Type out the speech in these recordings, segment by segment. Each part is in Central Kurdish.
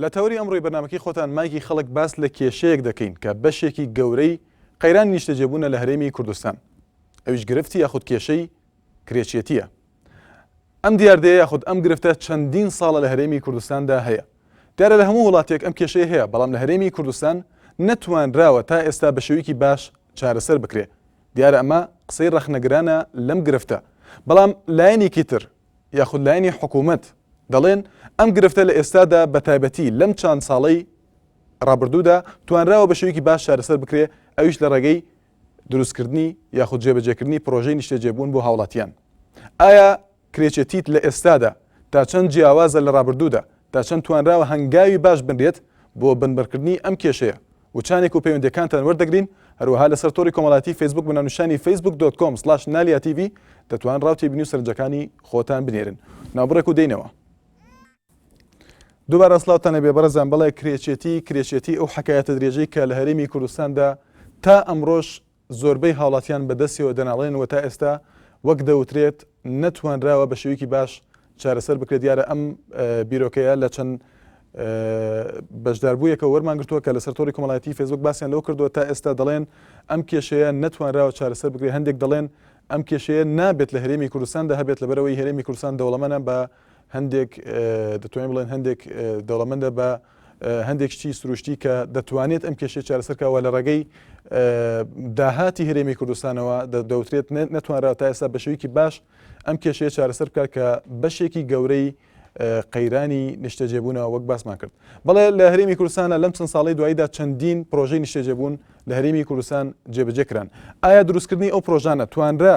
لە تەوەری ئەمڕۆی بەرنامەکەی خۆتان مایکی خەڵک باس لە کێشەیەک دەکەین کە بەشێکی گەورەی قەیرانی نیشتەجێبوونە لە هەرێمی کوردستان ئەویش گرفتی یاخود کێشەی کرێچێتیە ئەم دیاردەیە یاخود ئەم گرفتە چەندین ساڵە لە هەرێمی کوردستاندا هەیە دیارە لە هەموو وڵاتێک ئەم کێشەی هەیە بەڵام لە هەرێمی کوردستان نەتوانراوە تا ئێستا بە شێویکی باش چارەسەر بکرێ دیارە ئەمە قسەی ڕەخنەگرانە لەم گرفتە بەڵام لایەنێکی تر یاخود لایەنی حکوومەت دەڵێن، ئەم گرفتە لە ئێستادا بە تایبەتی لەم چاند ساڵەی ڕابردوودا توانراوە بە شێوەیەکی باش چارەسەر بکرێ ئەویش لە ڕێگەی دروستکردنی یاخود جێبەجێکردنی پڕۆژەی نیشتەجێبوون بۆ هاوڵاتیان ئایا کرێچێتیت لە ئێستادا تا چەند جیاوازە لە ڕابردوودا تا چەند توانراوە هەنگاوی باش بنرێت بۆ بنبڕکردنی ئەم کێشەیە وچانێک و پەیوەندیەکانتان وەردەگرین هەروەها لەسەر تۆری کۆمەڵایەتی فەیسبوک بە ناونیشانی فەیسبوک دۆت کۆم سڵاش نالیا تیڤی دەتوان ڕاو تێبینی و سەرنجەکانی خۆتان بنێرن ناوبڕێک و دێینەوە دوبارە سلاوتان لەبێ بەڕزان بڵێ کرێچێتی کرێچێتی ئەو حکایەتە درێژەی کە لە هەرێمی کوردستاندا تا ئەمڕۆژ زۆربەی هاوڵاتیان بە دەستیەوە دەناڵێنن و تا ئێستا وەک دەوترێت نەتوانراوە بە شێوەیەکی باش چارەسەر بکرێت، دیارە ئەم بیرۆکەیە لە چەند بەشداربوویەکە وەرمانگرتووە کە لەسەر تۆڕی کۆمەڵایەتی فێسبوک باسیان لەوە کردووە تا ئێستا دەڵێن ئەم کێشەیە نەتوانراوە چارەسەر بکرێت هەندێک دەڵێن ئەم کێشەیە نابێت لە هەرێمی کوردستاندا هەبێت لەبەرەوەی هەرێمی کوردستان دەوڵەمەنە بە هەندێک دەتوانین بڵێن هەندێک دەوڵەمەندە بە هەندێک شتی سروشتی کە دەتوانێت ئەم کێشەی چارەسەرکەوە لە ڕێگەی داهاتی هەرێمی کوردستانەوە دەوترێت نەتوانرا تا ئێستا بەشێکی باش ئەم کێشەیە چارەسەر بکات کە بەشێکی گەورەی قەیرانی نیشتەجێبوونەوە وەک باسمان کرد بەڵێ لە هەرێمی کوردستانە لەم چەند ساڵی دواییدا چەندین پرۆژەی نیشتەجێبوون لە هەرێمی کوردستان جێبەجێکران ئایا دروستکردنی ئەو پرۆژانە توانرا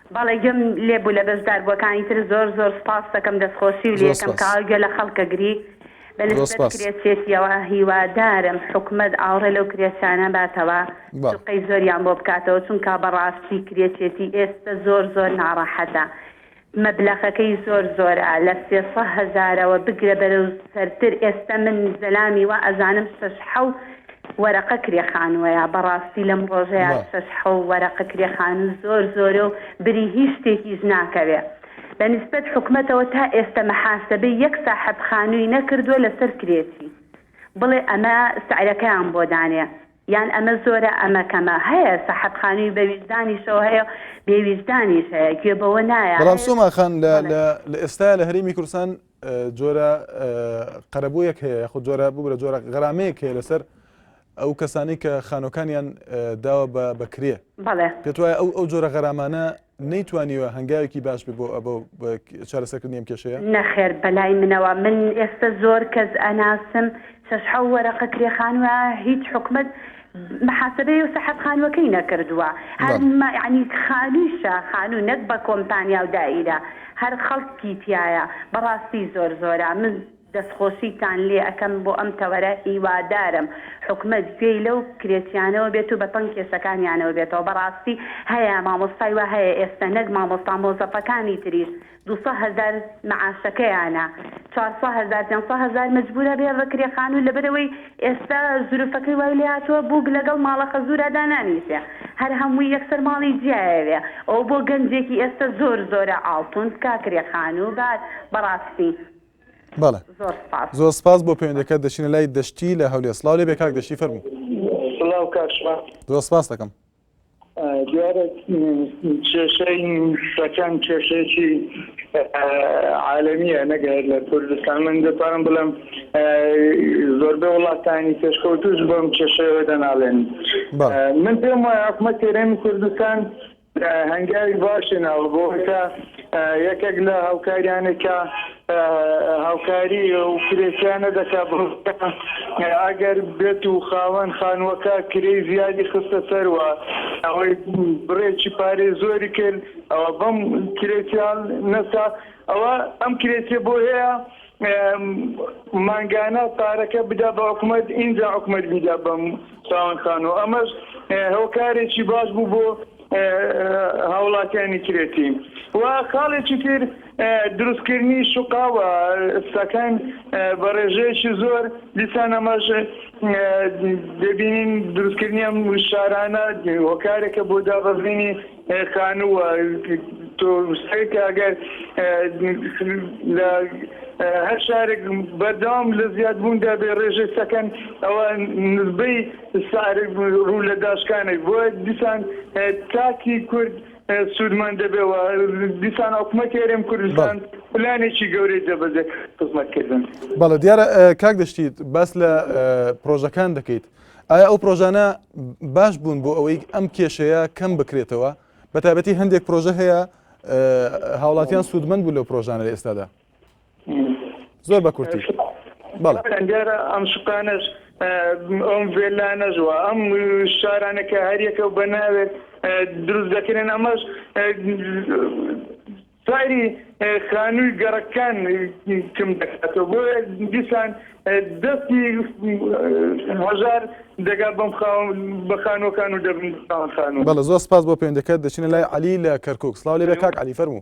بەڵێ گوێم لێ بوو لە بەشداربووەکانی تر زۆر زۆر سوپاست دەکەم دەستخۆشی و زۆر لەیەکەم سوپاس کەاوە گوێ لە خەڵک ئەگری بە زۆر نسبەت سوپاس کرێچێتیەوە هیوادارم حکومەت ئاوڕێ لەو کرێچانە باتەوە با. سوقەی زۆریان بۆ بکاتەوە چونکا بەڕاستی کرێچێتی ئێستە زۆر زۆر ناڕەحەتە مەبلەخەکەی زۆر زۆرە لە سێ سە هەزارەوە بگرە بەرەو سەرتر ئێستە من زەلامی وا ئەزانم شەش حەو وەرەقە کرێ خانوەیە بەڕاستی لەم ڕۆژەیا وە. شەش حەو وەرەقە کرێ خانوو زۆر زۆرە و بری هیچ شتێکیش ناکەوێ بە نیسبەت حکومەتەوە تا ئێستە محاسەبەی یەک ساحەب خانووی نەکردوە لەسەر کرێچی بڵێ ئەمە سعرەکەیان بۆ دانێ یان ئەمە زۆرە ئەمە کەمە هەیە ساحەب خانووی بە ویژدانیشەوە هەیە و بێ ویژدانیش هەیە گوێ بەوە نایە. بەڵام سۆما خان لە بەڵێ. لە لە ئێستایا لە هەرێمی کوردستان جۆرە قەرەبوویەک هەیە یاخود جۆرە ببرە جۆرە غەرامەیەک هەیە لەسەر ئەو کەسانی کە خانۆکانیان داوە بە بەکرێ پێت وایە ئەو ئەو جۆرە غەرامانە نەیتوانیوە هەنگاوێکی باش بێ بۆ ئەبە چارەسەکردنی ئەم کێشەیە نەخێر بەلای منەوە من ئێستا زۆر کەس ئەناسم شەش حەو وەرەقە کرێخانوە هیچ حکومت محاسبەی و سەحەب خانوەکەی نەکردوە هەر بەڵێ. ما یەعنی خانویشە خانو نەک بە کۆمپانیاو دائیرە هەر خەڵکی تیایە بەڕاستی زۆر زۆرە من دەستخۆشیتان لێ ئەکەم بۆ ئەم تەوەرە هیوادارم حکومەت گوێی لەو کرێچیانەوە بێت و بەتەنگ کێشەکانیانەوە بێتەوە بەڕاستی هەیە مامۆستای وا هەیە ئێستە نەک مامۆستا مۆزەفەکانی تریش دوو سە هەزار معاشەکەیانە چوار سە هەزار پێنج سە هەزار مەجبورە بێ بە کرێ خانوو لەبەرەوەی ئێستا زروفەکەی وای لێهاتووە بووک لەگەڵ ماڵە خەزورا دانانیشێ هەر هەمووی یەکسەر ماڵی جیایەوێ ئەوە بۆ گەنجێکی ئێستا زۆر زۆرە ئاڵتون تکا کرێ خانوو با بەڕاستی بەڵێ زۆر سپاس زۆر سپاس بۆ پەیوەندەکەت دەچینە لای دەشتی لە هەولێر سڵاو لێبێ کاک دەشتی فەرموو. سڵاو کاک ژمار. زۆر سپاس دەکەم. دیارە کێشەی سەکەن کێشەیەکی عالمیە نەک هەر لە کوردستان من دەتوانم بڵێم زۆربەی وڵاتانی پێشکەوتوش بۆم کێشەوە دەناڵێن من پێم وایە حکومەت تێرێمی کوردستان هەنگاوی باشی ناوە بۆ یەکێک لە هاوکاریانێکە هاوکاری و کرێکیان نەدەکا بۆ ئەگەر بێت و خاوەن خانووەکە کرێی زیادی خستە سەر و ئەوەی بڕێکی پارەی زۆری کرد ئەوە بەم کرێکیان نەسا ئەوە ئەم کرێکیە بۆ هەیە مانگانە پارەکە بدا بە حکوومەت ئینجا حکوومەت بیدا بەم خاوەن خانوو ئەمەش هۆکارێکی باش بوو بۆ هاوڵاتیانی کرێتی و خاڵێکی تر دروستکردنی شقاوە سەکەن بە ڕێژەیەکی زۆر دیسان ئەمەش دەبینین دروستکردنی ئەم شارانە هۆکارێکە بۆ دابەزینی خانووە تۆستێک ئەگەر لە هەر شارێک بەردەوام لە زیادبووندا بێ ڕێژەی سەکەن ئەوە نزبەی سارد ڕوو لە داشکانێک بۆیە دیسان تاکی کورد سوودمەند دەبێت و دیسان حکوومەتی هەرێم کوردستان پلانێکی گەورەی دەبەزێت خزمەتکردن. بەڵێ دیارە کاک دەشتیت باس لە پرۆژەکان دەکەیت ئایا ئەو پرۆژانە باش بوون بۆ ئەوەی ئەم کێشەیە کەم بکرێتەوە بە تابەتی هەندێک پرۆژە هەیە هاوڵاتیان سوودمەند بوو لەو پرۆژانە لە ئێستادا. زۆر بە کورتی بەڵێ کاکەیان دیارە ئەم سوکانەش م، ئەم ڤێلانەش و ئەم شارانە کە هەریەکە و بە ناوێک اه، دروست دەکرێن ئەمەش اه، سەیری اه، خانووی گەڕەکان اه، کم دەکاتەوە بۆیە دیسان اه، دەستی اه، هەژار دەگا بەم خاوەن بە خانووەکان و دەبن بە خاوەن خانوو. بەڵێ زۆر سپاس بۆ پەیوەندیەکەت دەچینە لای عەلی لە کەرکوک سڵاو لێبێ کاک عەلی فەرموو.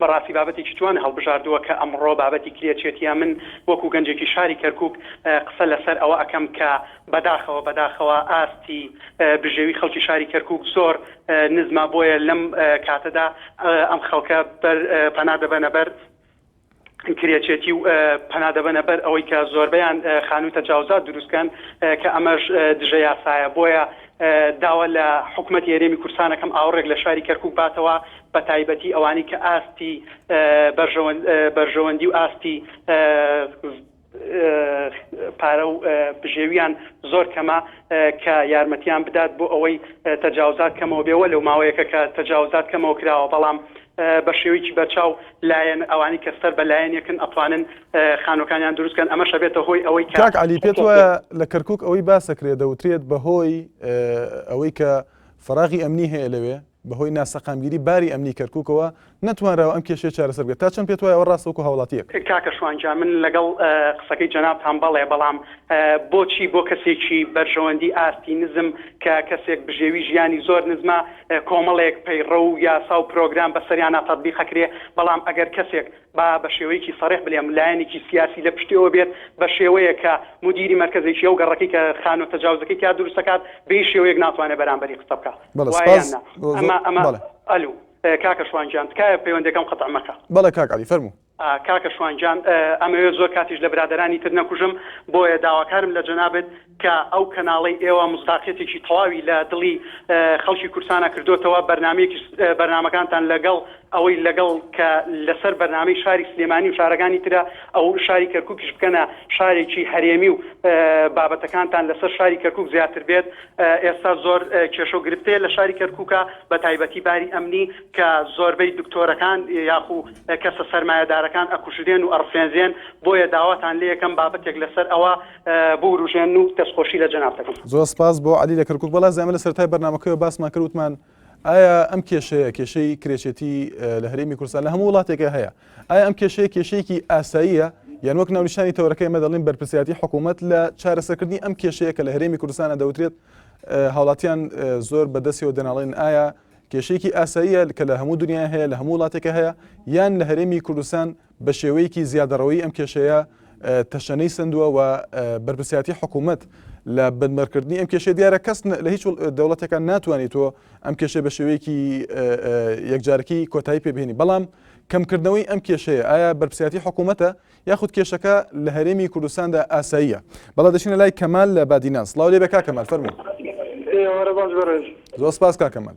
بەڕاستی بابەتێکی جوان هەڵبژاردووە کە ئەمڕۆ بابەتی کرێچێتیە، من وەکو گەنجێکی شاری کەرکوک قسە لەسەر ئەوە ئەکەم کە بەداخەوە بەداخەوە ئاستی بژێوی خەڵکی شاری کەرکوک زۆر نزمە بۆیە لەم کاتەدا ئەم خەڵکە بەر پەنا دەبەنە بەر کرێچێتی و پەنا دەبەنە بەر ئەوەی کە زۆربەیان خانووی تەجاوزات دروستکەن کە ئەمەش دژە یاسایە بۆیە داوا لە حکومەتی هەرێمی کورسانەکەم ئاوڕێک لە شاری کەرکوک باتەوە بەتایبەتی ئەوانەی کە ئاستی بەرژەوەندی و ئاستی پارە و بژێویان زۆر کەمە کە یارمەتیان بدات بۆ ئەوەی تەجاوزات کەمەوە بێ وەلەو ماوەیەکە کە تەجاوزات کەمەوە کراوە بەڵام بە شێوەیەکی بەرچاو لایەن ئەوانی کە سەر بە لایەنێکن ئەتوانن خانوەکانیان دروست کەن ئەمەش ئەبێتە هۆی ئەوەی کە. کاک عەلی پێت وایە لە کەرکوک ئەوەی باسەکرێ دەوترێت بە هۆی ئەوەی کە فەراغی ئەمنی هەیە لەوێ، بەهۆی ناسەقامگیری باری ئەمنی کەرکوکەوە نەتوانراوە ئەم کێشەیە چارەسەر بکرێت، تا چەند پێتوایە ئەوە ڕاستە وەکو هاوڵاتیەک؟ کاکە شوان گیان من لەگەڵ قسەکەی جەنابتان بەڵێ بەڵام بۆچی بۆ کەسێکی بەرژەوەندی ئاستی نزم کە کەسێک بژێوی ژیانی زۆر نزمە کۆمەڵێک پەیڕەو و یاسا و پرۆگرام بەسەریانا تەتبیقەکرێ بەڵام ئەگەر کەسێک با بە شێوەیەکی سەڕێح بلێم لایەنێکی سیاسی لە پشتی ئەوە بێت بە شێوەیەک کە مودیری مەرکەزێکی ئەو گەڕەکەی کە خانووە تەجاوزەکەی تیا دروست دەکات بە هیچ شێوەیەک ناتوانێت بەرامبەری قسە بکات بەڵێ وایە یان سپاس نا زۆ زۆ ئەمە ئەمە بەڵێ ئەلوو کاکە شوان گیان تکایە پەیوەندیەکەم قەتع مەکە. بەڵێ کاک عەلی فەرموو. کاکە شوان گیان ئەمەوێت زۆر کاتیش لە برادەرانی تر نەکوژم بۆیە داواکارم لە جەنابت کە ئەو کەناڵەی ئێوە مصداقیەتێکی تەواوی لە دڵی خەڵکی کوردسانا کردۆتەوە بەرنامەیەکیش بەرنامەکانتان لەگەڵ ئەوەی لەگەڵ کە لەسەر بەرنامەی شاری سلێمانی و شارەکانی ترە ئەو شاری کەرکوکیش بکەنە شارێکی هەرێمی و بابەتەکانتان لەسەر شاری کەرکوک زیاتر بێت ئێستا زۆر کێشە و گرفتەیە لە شاری کەرکوکا بە تایبەتی باری ئەمنی کە زۆربەی دکتۆرەکان یاخو کەسە سەرمایەدارەکان ئەکوژرێن و ئەڕفێنرێن بۆیە داواتان لێ یەکەم بابەتێک لەسەر ئەوە بوروژێن و دەستخۆشی لە جەناب دەکەم. زۆر سپاس بۆ عەلی لە کەرکوک. وەڵا زەمە لە سەرەتای بەرنامەکەیەوە باسمان کرد وتمان ئایا ئەم کێشەیە کێشەی کرێچێتی لە هەرێمی کوردستان لە هەموو وڵاتێکە هەیە ئایا ئەم کێشەیە کێشەیەکی ئاساییە یان وەک ناونیشانی تەوەرەکەی مە دەڵین بەرپرسیاتی حکوومەت لە چارەسەکردنی ئەم کێشەیە کە لە هەرێمی کوردستانە دەوترێت هاوڵاتیان زۆر بەدەستەوە دەناڵێن ئایا کێشەیەکی ئاساییە کە لە هەموو دنیا هەیە لە هەموو وڵاتێکە هەیە یان لە هەرێمی کوردستان بە شێوەیەکی زیادەڕەوەی ئەم کێشەیە تەشەنەی سەندووە و بەرپرسیاتی حکوومەت لە بنبەرکردنی ئەم کێشە دیارە کەس لە هیچ دەوڵەتەکان ناتوانێت تۆ ئەم کێشە بە شێوەیەکی یەکجارکی کۆتایی پێبێنی بەڵام کەمکردنەوەی ئەم کێشەیە ئایا بەرپسیاتی حکوومەتە یاخود کێشەکە لە هەرێمی کوردستاندا ئاساییە بەڵا دەچینە لای کەمال لە بادینان سلااو لێ بە کاکەمال فەرمو زۆر سپاس کاکەمال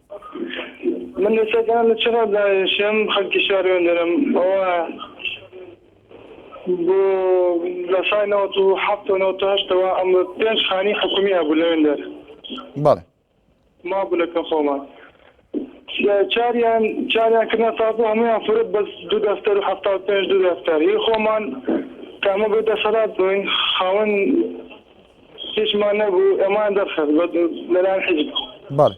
من ئێستا دانم لە چ ڕا دانێشم خەلکی شار وێندەرم ئەوایە بۆ لە سای نەوەت و حەفت و نەوەت و هەشت ەوە ئەمە پێنج خانی حکومی هەبوو لە وێندەر بەڵێ مابوو لە کە خۆمان چاریان چاریان کردنە تازە هەمویان فرۆت بەس دوو دەفتەر و حەفتا و پێنج دوو دەفتەر هی خۆمان کە ئەمە بێ دەسەلات بووین خاوەن هیچمان نەبوو ئەمان دەرخست بە لەلایەن حیزب بەڵێ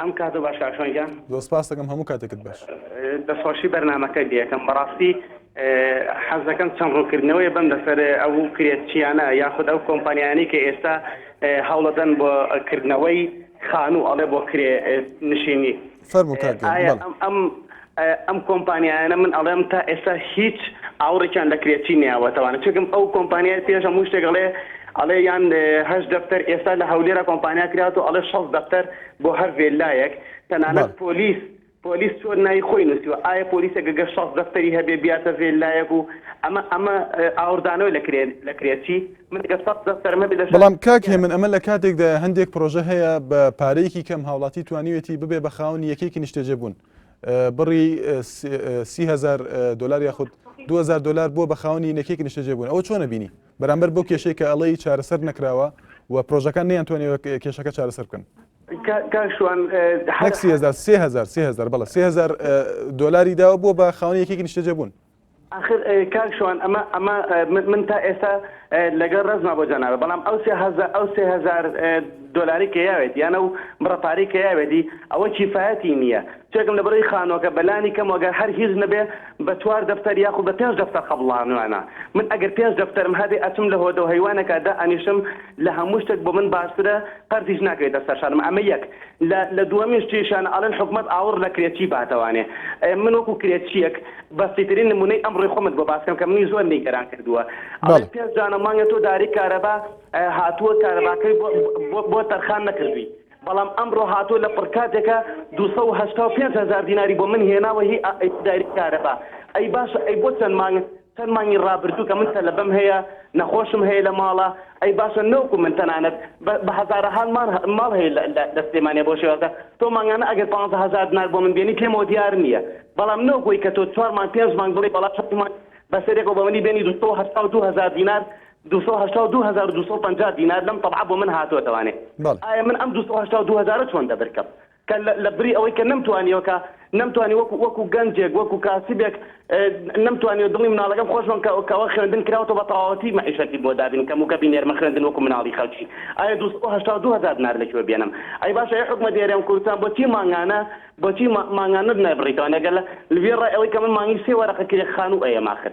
ئەم کاتۆ باش کاکسۆنگە زۆر سپاس دەکەم هەموو کاتێکت باش دەسخۆشی بەرنمەکە دیەکەم بەڕاستی حەز دەکەم چەند ڕوونکردنەوەی بم لەسەر ئەو کرێت چیانە یاخود ئەو کۆمپانیانی کە ئێستا هەوڵەدەن بۆ کردنەوەی خانوو ئەڵێ بۆ کرێ نشینی فەرموو کاک گیان، ئایا بەڵێ. ئەم ئەم ئەم کۆمپانیایانە من ئەڵێم تا ئێستا هیچ ئاوڕێکیان لە کرێچی نەیاوەتەوانە چونکم ئەو کۆمپانیای پێش هەموو شتێک ئەڵێ ئەڵێ یان هەشت دەفتەر ئێستا لە هەولێرا کۆمپانیا کراوەتەوە ئەڵێ شەست دەفتەر بۆ هەر ڤێللایەک تەنانەت بەڵێ. پۆلیس پۆلیس چۆن ناوی خۆی نووسیوە ئایا پۆلیسێک گەر شەست دەفتەری هەبێ بیاتە ڤێللایەک و ئەمە ئەمە ئاوڕدانەوەی لە کرێ لە کرێچی بەڵام کاک هێمن ئەمە لە کاتێکدایە هەندێک پرۆژە هەیە بە پارەیەکی کەم هاوڵاتی توانیوێتی ببێ بە خاونی یەکێکی نیشتەجێ بوون بڕی سیهزار دلار یاخود 2000 دلار بووە بە خاونی نەکێکی نیشتەجێ بوون ئەوە چۆنە بینی بەرامبەر بۆ کێشەی کە ئەڵەی چارەسەر نەکراوە و پرۆژەکان نیان توانێ کێشەکە چارەسەر بکەن سهزار بەڵە سهزار دلاری داوە بووە بە خاونی یەکێکی نیشتەجێ بوون ئاخر کاک شوان ئەمە ئەمە من تا ئێستا لەگەڵ ڕێزما بۆ جەنابت بەڵام ئەو سێ هەزار ئەو سێ هەزار دۆلاری کە یاوێت یانە و بڕە پارەی کە یاوێتی ئەوە کیفایەتی نییە چێکم لە بڕی خانۆکە بەلانی کەم وەگەر هەر هیچ نەبێ بە چوار دەفتەر یاخود بە پێنج دەفتەر قەبڵانوانە من ئەگەر پێنج دەفتەرم هەبێ ئەچم لە هۆدە و هەیوانەکە دائەنیشم لە هەموو شتێک بۆ من باشترە قەرزیش ناکەوێتە سەر شانم ئەمە یەک لە لە دووەمین شتیشان ئەڵێن حکومەت ئاوڕ لە کرێچی باتەوانێ ئێ من وەکو کرێچییەک بەسیترین نمونەی ئەمڕۆی خۆمت بۆ باسکەم کە منی زۆر نیگەران کردووە ئەڵێن بەڵێ پێنج دانە مانگە تۆ داری کارەبا هاتووە کارەباکەی بۆ بۆ بۆ تەرخان نەکردووی بەڵام ئەمڕۆ هاتووە لە پڕکاتێکە 285 هەزار دیناری بۆ من هێناوە هی ئەی داری کارەبا ئەی باشە ئەی بۆ چەند مانگ چەند مانگی ڕابردوو کە من تەلەبەم هەیە، نەخۆشم هەیە لە ماڵە، ئەی باشە نەوکو من تەنانەت بە هەزارەها ماڵ هەیە لە سلێمانیە بەو شێوازە، تۆ مانگانە ئەگەر پانزە هەزار دنار بۆ من بێنی پێمەوە دیار نییە، بەڵام نەوەکو ئەی کە تۆ چوار مانگ پێنج مانگ بڵێی بەڵام چەند مانگ بە سەرێکەوە بە منی بێنی دوو سەد و هەشتا و دوو هەزار دینار، دوو سەد و هەشتا و دوو هەزار و دوو سەد و پەنجا دینار لەم تەبعە بۆ من هاتووەتەوانێ، ئایا من ئەم دوو سەد و هەشتا و دوو هەزارە چۆن دەبرکەم؟ کە لە بری ئەوەی کە نەمتوانیوە کە نەمتوانی وەکو وەکو گەنجێک وەکو کاسبێک نەمتوانیوە دڵی مناڵەکەم خۆش بم کە کەوە خوێندن کراوەتەوە بە تەواوەتی مەعیشەتی بۆ دابین کەم و کە بینێرمە خوێندن وەکو مناڵی خەڵکی ئایا دوو سەد و هەشتا و دوو هەزار دینار لەکوێ بێنم ئەی باشە ئەی حکومەت ئێرەم کوردستان بۆچی مانگانە بۆچی مانگانە نابڕیتەوە ئەگەر لە لڤیێ ڕای ئەوەی کە من مانگی سێ وەرەقە کرێ خانوو ئەیەم ئاخر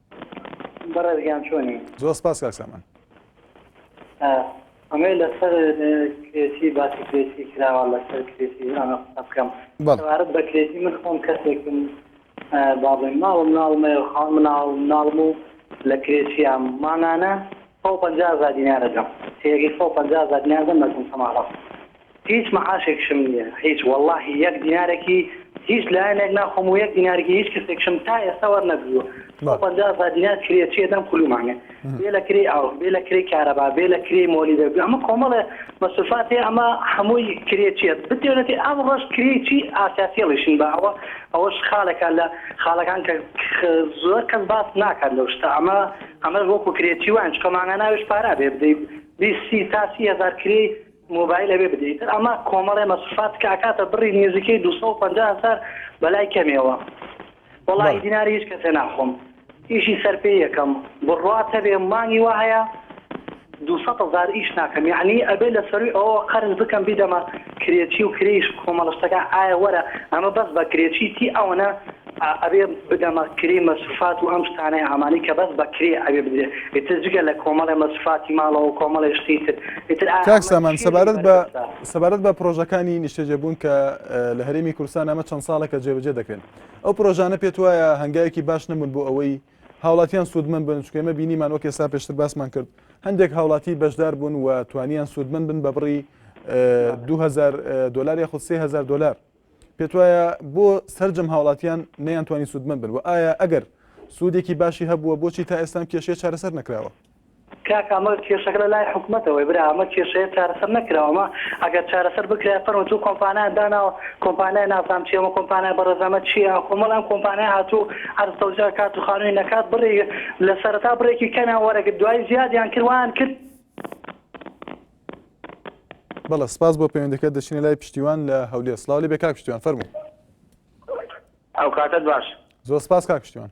بەڕێز گیان چۆنی؟ زۆر سپاس کاک سامان. ئەمەی لەسەر کرێتی باسی کرێتی کراوە لەسەر کرێتی ئەمە قسە بکەم سەبارەت بە کرێتی من خۆم کەسێکم با بڵێم ماڵم ناڵمەیە خاڵ مناڵ مناڵم و لە کرێچیام مانانە سەد و پەنجا هەزار دینار ئەدەم سێیەکەی سەد و پەنجا هەزار دینار ئەدەم مردم تەماڕە هیچ مەعاشێکشم نیە هیچ وەڵاهی یەک دینارێکی هیچ لایەنێک ناخۆم و یەک دینارێکی هیچ کەسێکشم تا ئێستا وەرنەگریوە سەد و پەنجا هەزار دینار کرێ چی ئەدەم کلومانێ بێ لە کرێی ئاو بێ لە کرێی کارەبا بێ لە کرێی مۆلیدە بێ ئەمە کۆمەڵێ مەسروفات هەیە ئەمە هەمووی کرێ چیە بتوێنێتی ئەمڕۆش کرێی چی ئاسیاسیەڵیشن بە ئەوە ئەوەش خاڵێکە لە خاڵەکان کە زۆر کەس باس ناکات لەو شتە ئەمە ئەمە وەکو کرێ چی وان چکە مانا ناوێش پارا بێ بدەی بی سی تا سی هزار کرێی مۆبایل ئەوێ بدەیت ئەمە کۆمەڵێ مەسفات کە ئەکاتە بڕی نێزیکەی 250 هزار بەلای کەمێەوە وڵی دیناری هیچ کەسێ ناخۆم ئیشی سەرپێ یەکەم بڕات هەبێ مانگی وە هەیە دوو سەد هەزار ئیش ناکەم یەعنی ئەبێ لەسەروی ئەوەوە قەرز بکەم بیدەمە کرێچی و کرێیش کۆمەڵە شتەکان ئایا وەرە ئەمە بەس بە کرێچی تی ئەوەنە ئەبێ بدەمە کرێی مەسروفات و ئەم شتانەی ئامانەی کە بەس بە کرێ ئەبێ بدرێ ئیتر جگە لە کۆمەڵێ مەسروفاتی ماڵەوەو کۆمەڵێ شتی تر ئیتر ئایا کاک ئەمە سامان چیە لێی سەبارەت بە بەربەستە؟ سەبارەت بە پرۆژەکانی نیشتەجێبوون کە لە هەرێمی کوردستان ئەمە چەند ساڵێکە جێبەجێ دەکرێن ئەو پرۆژانە پێت وایە هەنگاوێکی باش نەبوون بۆ ئەوەی هاوڵاتیان سوودمەند بن، چونکە ئێمە بینیمان وەک ئێستا پێشتر باسمان کرد هەندێک هاوڵاتی بەشدار بوون و توانیان سوودمەند بن بە بڕی دوو هەزار دۆلار یاخود سێ هەزار دۆلار پێت وایە بۆ سرجەم هاوڵاتیان نەیانتوانی سوودمەند بن و ئایا ئەگەر سوودێکی باشی هەبووە بۆچی تا ئێستام کێشەیە چارەسەر نەکراوە کاکە ئەمە کێشەکە لە لای حکومەتەوەی برا ئەمە کێشەیە چارەسەر نەکراوە ئەمە ئەگەر چارەسەر بکرایە فەرموو چوو کۆمپانایان داناوە کۆمپانای نازام چی ئەمە کۆمپانای بەڕێزامە چیە کۆمەڵ ئەم کۆمپانای هاتوو عەرز تەوزی ئەکات و خانووی نەکات بڕی لە سەرەتا بڕێکی کەمیان وەرەگرت دوای زیادیان کرد وایان کرد بەڵێ سپاس بۆ پەیوەندەکەت دەچینە لای پشتیوان لە هەولێر سڵاو لێبێ کاک پشتیوان فەرموو ئەوکاتەت باش. زۆر سپاس کاک پشتیوان.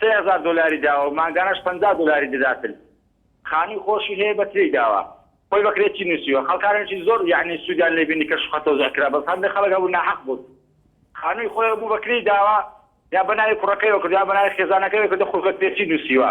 سێ هەزار دۆلاری داوە و مانگانەش پەنجا دۆلاری دەداتن خانوی خۆشی هەیە بەس لێی داوە خۆی بەکرێ چی نوسیوە خەڵکانێکی زۆر یەعنی سودیان لێ بینی کە شوقە تۆزیع کرا بەس هەندێ خەڵک هەبوو ناحەق بوون خانوی خۆی هەبوو بەکرێی داوە یا بەناوی کوڕەکەیەوە کردوە یا بەناوی خێزانەکەیەوە کردوە خۆی بەکرێ چی نوسیوە.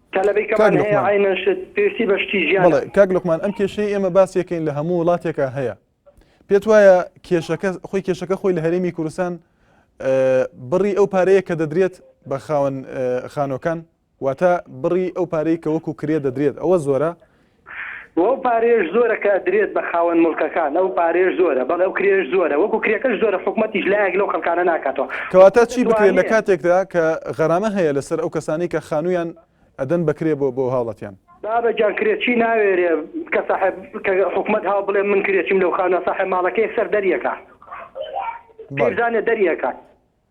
تەلەبەی کەمان هەیە عەینەن شت پێویستی بە شتی ژیانە. بەڵێ کاک لوقمان ئەم کێشەی ئێمە باسیەکەین لە هەموو وڵاتێکە هەیە پێت وایە کێشەکە خۆی کێشەکە خۆی لە هەرێمی کوردستان بڕی ئەو پارەیە کە دەدرێت بە خاون خانۆکان واتە بڕی ئەو پارەی کە وەکو کرێ دەدرێت ئەوە زۆرە و ئەو پارەیەش زۆرە کە ئەدرێت بە خاوەن موڵکەکان، ئەو پارەیەش زۆرە بەڵێ ئەو کرێیەش زۆرە، وەکو کرێکەش زۆرە حکومەتیش لایەک لەو خەڵکانە ناکاتەوە. کەواتە چی بکرێت لە کاتێکدا کە غەرامە هەیە لەسەر ئەو کەسانەی کە خانوویان ئەدەن بە کرێ بۆ بۆ هاوڵاتیان؟ بابە گیان کرێچی ناوێرێ کە ساحێب کە حکومەت هاو بڵێ من کرێچیم لەو خانووە ساحێب ماڵەکەی سەر دەریەکە پیرزانێ دەریەکە.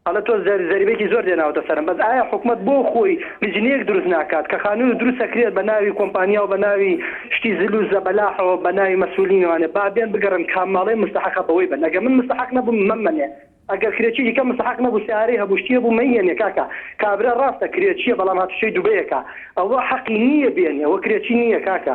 ئەڵێ تۆ زەر زەریبێکی زۆر دێناوەتە سەرم بەس ئایا حکومەت بۆ خۆی لیجنەیەک دروست ناکات کە خانوو دروست ئەکرێت بە ناوی کۆمپانیا و بە ناوی شتی زل و زەبەلاحەوە بە ناوی مەسولین و ئەنێ با بێن بگەڕێن کام ماڵێ مستەحەقە بەوەی بەن ئەگەر من مستەحەق نەبووم مەمەنێ ئەگەر کرێچی دیکە مستەحەق نەبوو سەیارەی هەبوو شتی هەبوو مەیهێنێ کاکە کابرا ڕاستە کرێچیە بەڵام هاتوچۆی دوبەیەکە ئەوە حەقی نییە بێنێ ئەوە کرێچی نییە کاکە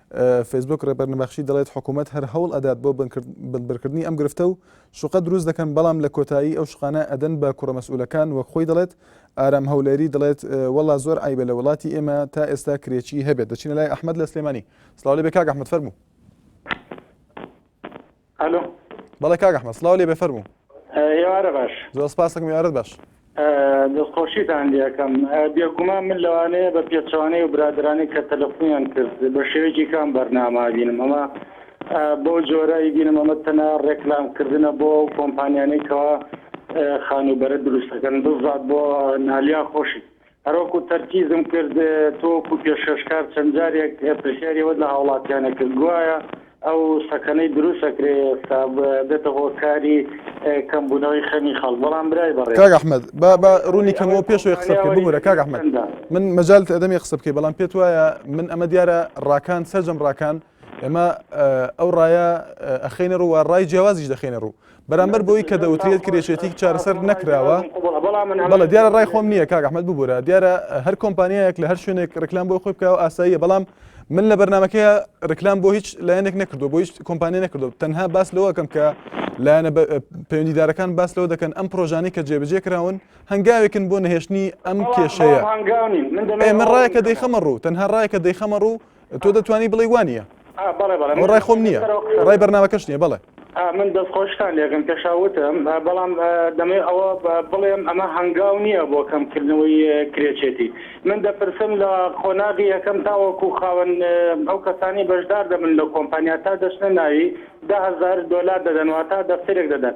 فەیسبووک ڕێبەر نەبەخشی دەڵێت حکوومەت هەر هەوڵ ئەدات بۆ بنبڕکردنی ئەم گرفتە و شوقە دروست دەکەن بەڵام لە کۆتایی ئەو شقانە ئەدەن بە کوڕە مەسئولەکان وەک خۆی دەڵێت ئارام هەولێری دەڵێت وەڵا زۆر عیبە لە وڵاتی ئێمە تا ئێستا کرێچی هەبێت دەچینە لای ئەحمد لە سلێمانی سلااو لە بێ کاک ئەحمد فەرموو ئەلۆ. بەڵێ کاک ئەحمەد، سڵاو لێبێ فەرموو. ئێوارە باش. زۆر سپاس کاکم ئێوارەت باش. دەستخۆشیتان لێکەم. بێگومان من لەوانەیە بە پێچەوانەی و برادرانی کە تەلەفونیان کرد بە شێوەیەکی کام بەرناما بینم ئەمە بەو جۆرایی بینم ئەمە تەنە ڕێکلام کردنە بۆ ئەو کۆمپانیانەی کەوا خانووبەرە دروستەکەن بزات بۆ نالیا خۆشی هەروەکو تەرکیزم کرد تۆ وەکو پێشکەشکار چەند جارێک پرسیاری ئەوەت لە هاوڵاتیانە کرد گوایە ئەو سەکەنەی دروست ئەکرێ ئێستا بێتە هۆکاری کەمبوونەوەی خەمی خەڵک بەڵام برای بەڕێز کاک ئەحمەد با با ڕوونی کەمەوە پێش ئەوەی قسە بکەی ببورە کاک ئەحمەد من مەجالت ئەدەم یە قسە بکەی بەڵام پێت وایە من ئەمە دیارە ڕاکان سەرجەم ڕاکان ئێمە ئەو ڕایە ئەخینە ڕوو و ڕای جیاوازیش دەخینە ڕوو بەرامبەر بۆی کە دەوترێت کرێشێتی چارەسەر نەکراوە بەڵە دیارە ڕای خۆم نییە کاک ئەحمد ببوورە دیارە هەر کۆمپانیایەک لە هەر شوێنێک ڕکلام بۆی خۆی بکەوە ئاساییە بەڵام من لە بەرنمەکەی ڕکلام بۆ هیچ لایەنێک نەکردو بۆ هیچ کۆمپانی نەکردو تەنها باس لەوەکەم کە لایەنە پەیوەندیدارەکان باس لەوە دەکەن ئەم پرۆژانی کە جێبجێ کراون هەنگاوێکن بۆ نەهێشتنی ئەم کێشەیە ئێمە ڕایەکە دەیخەمە ڕوو تەنها ڕایەکە دەیخەمە ڕوو تۆ دەتوانی بڵێ وانە ڕای خۆم نییە ڕای بەرنمەکەش نیە بڵێ من دەستخۆشتان لەگەن پێشاوتم بەڵام دەمێ ئەوە بڵێم ئەمە هەنگاو نییە بۆ کەمکردنەوەی کرێچێتی من دەپرسم لە قۆناغی یەکەم تاوەکو خاوەن ئەو کەسانی بەشدار دەبن لە کۆمپانیا تا دەچنە ناوی دههزار دلار دەدەنەوە تا دەفتێک دەدەن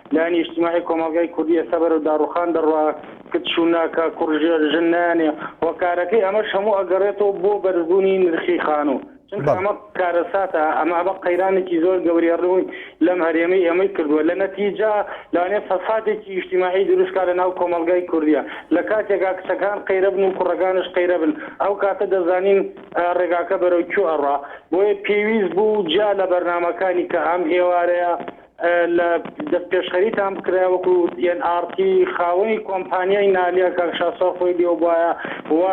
لایەنی ئیجتیماعی کۆمەڵگای کوردی ئێستا بەرەو داڕوخان دەڕوا، کچ و ناکا، کوڕ ژێر ژن نایانێ، هۆکارەکەی ئەمەش هەموو ئەگەڕێتەوە بۆ بەرزبوونی نرخی خانوو، چونکە ئەمە کارەساتە، ئەمە ئەمە قەیرانێکی زۆر گەورەیە ڕووی لەم هەرێمەی ئێمەی کردووە، لە نەتیجە لەوانەیە فەسادێکی ئیجتیماعی دروست کا لەناو کۆمەڵگای کوردیا، لە کاتێکا کچەکان قەیرە بن و کوڕەکانش قەیرە بن، ئەو کاتە دەزانین ڕێگاکە بەرەو کوێ ئەڕوا، بۆیە پێویست بوو جیا لە بەرنامەکانی کە ئەم ئێوارەیە لە دەستپێشخەریتان بکرایە وەکو ئێن ئاڕ تی خاوەنی کۆمپانیای نالیا کاک شاسوار خۆی لێوە بوایە و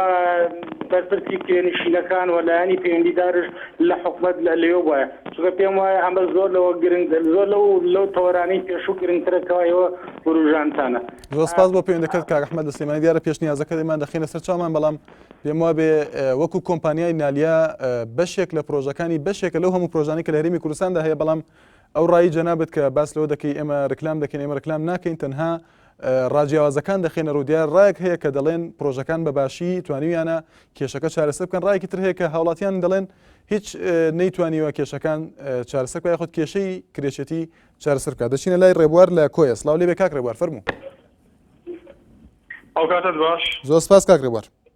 بەرپرسی کرێنشینەکان و لایەنی پەیوەندیدارش لە حکومەت لە لێوە بوایە چونکە پێم وایە ئەمە زۆر لەوە گرنگ زۆر لەو لەو تەوەرانی پێشوو گرنگترە کەوا ئێوە وروژانتانە زۆر سپاس بۆ پەیوەندەکەت کاک ئەحمەد لە سلێمانی دیارە پێشنیازەکەت ئێمان دەخینە سەر چامان بەڵام پێم وا بێ وەکو کۆمپانیای نالیا بەشێک لە پرۆژەکانی بەشێکە لەو هەموو پرۆژانی کە لە هەرێمی کوردستاندا هەیە بەڵام ئەو ڕایی جەنابت کە باس لەوە دەکەی ئێمە رکلام دەکەین ئێمە رکلام ناکەین تەنها ڕاجیاوازەکان دەخێنە ڕوو دیار ڕایەک هەیە کە دەڵێن پرۆژەکان بە باشی توانیویانە کێشەکە چارەسە بکەن ڕایکی تر هەیە کە هاوڵاتیان دەڵێن هیچ نەیتوانیوە کێشەکان چارەسەر کە خۆت کێشەی کرێچێتی چارەسەر بکات دەچینە لای ڕێبوار لە کۆیە سلااو لێ بێ کاک ڕێبوار فەرمو ئەو کاتت باش زۆر سپاس کاک ڕێبوار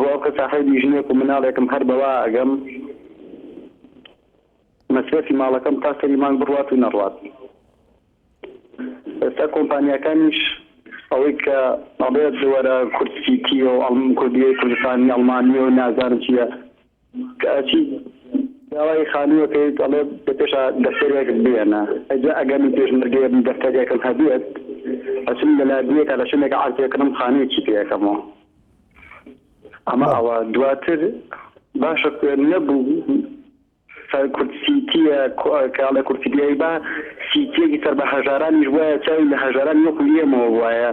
ڕۆڵکە ساحێبی ژنێک و مناڵێکم هەر بەوە ئەگەم مەسرەفی ماڵەکەم تا سەری مانگ بڕوات و نەڕوات ئێستا کۆمپانیاکانیش ئەوەی کە ئەڵێت وەرە کورد سیتیە و ئەڵم کوردیەی کوردستانی ئەڵمانیە و نازانم چیە کەچی داوای خانوو ئەکەیت ئەڵێ لە پێشا دەفتەرێکت بێنە ئەجا ئەگەر من پێشمەرگەیە بم دەفتەرێکم هەبێت ئەچم لە لادیەکا لە شوێنێکا عەرزێ کڕم خانوویەکی پێ ئەکەمەوە ئەمە ئەوە دواتر باشە نەبوو کورد سیتیە کاڵە کورتیبیایی با سیتیەکی سەر بە هەژارانیش وایە چاوی لە هەژاران وەکو ئێمەوە وایە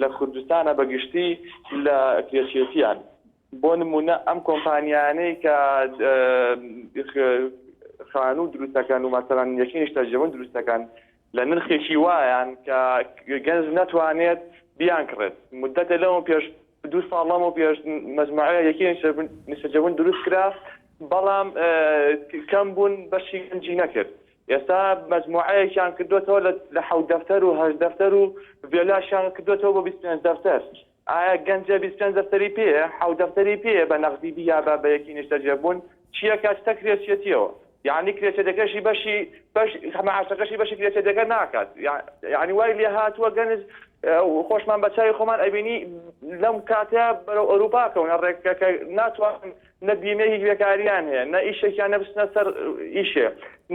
لە کوردستانە بە گشتی لە کرێچێتیان. بۆ نموونە ئەم کۆمپانیانەی کە خانوو دروست دەکەن و مەسەلەن یەکەی نیشتەجێبوون دروست دەکەن لە نرخێکی وایان کە گەنج نەتوانێت بیانکڕێت. موددەتێ لەمەو پێش دوو ساڵ لەمەو پێش مەجموعەیە یەکەی نیشتەجێبوون دروست کرا بەڵام کەم بوون بەشی گەنجی نەکرد. ئێستا مەجموعەیەکیان کردۆتەوە لە حەوت دەفتەر و هەشت دەفتەر و ڤێلاشیان کردۆتەوە بۆ بیست پێنج دەفتەر ئایا گەنجە بیست پێنج دەفتەری پێیە حەوت دەفتەری پێیە بە نەغدی بیا بە بە یەکی نیشتەجێ بوون چییە کە ئەچتە کرێچیەتیەوە یانی کرێچەتەکەشی بەشی بەش مەعاشەکەشی بەشی کرێچەتەکە ناکات یانی وای لێ هاتووە گەنج خۆشمان بە چاوی خۆمان ئەبینی لەم کاتە بەرەو ئەوروپا کەونە ڕێکەکە ناتوانن نە بیمەی بێکاریان هەیە نە ئیشێکیان نە بچنە سەر ئیشێ